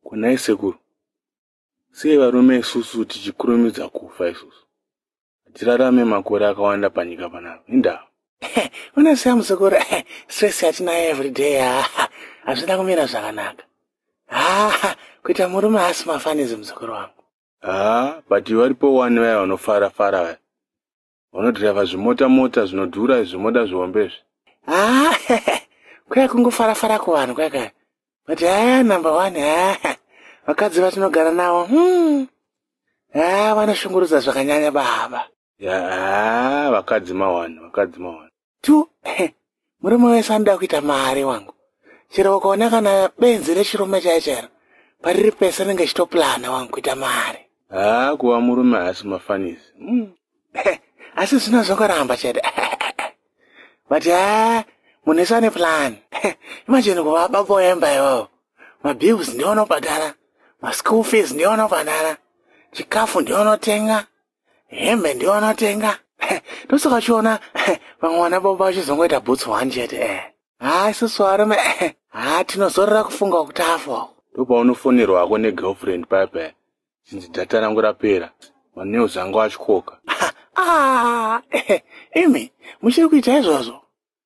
kunai sekuru sei varume isusu tichikurumidza kufa isusu hatirarame makore akawanda panyika panapa indaa unoziva muzukuru stress yatinayo everyday hazvina kumira zvakanaka haa kuita murume haasi mafanizi muzukuru wangu haa but varipo wani vaya vanofara fara vaya unodhirevha zvimota mota zvinodhura izvi moda zvihombe izvi ah, kwaya kungofara fara kuvanhu kwaya kaya but haa ah, number one haa ah, vakadzi vatinogara navo hmm. haa vanoshungurudza zvakanyanya baba yaa vakadzi mawani vakadzi mawani tu murume wese anoda kuita mari wangu chero ukaona kana benzi rechirume chaiye chairo pariri pese anenge achitoplana wangu kuita mari haa kuva murume haasi mafanisi hmm. asi zvino zvokoramba chete but ha munhu ese ane plan imajini kuva baba wemba iwawo mabills ndiwo anobhadhara maschool fees ndiwo anobhadhara chikafu ndiwo anotenga hembe ndiyo anotenga ndosaka uchiona vamwe vana baba vachizongoita bhutsu one chete eh. ha isusu varume eh. ha tinozorora kufunga kuti afo ndopaunofonerwa hako negirlfriend pape chinzi data rangu rapera manews angu achikoka ah, eh, imi muchiri kuita izvozvo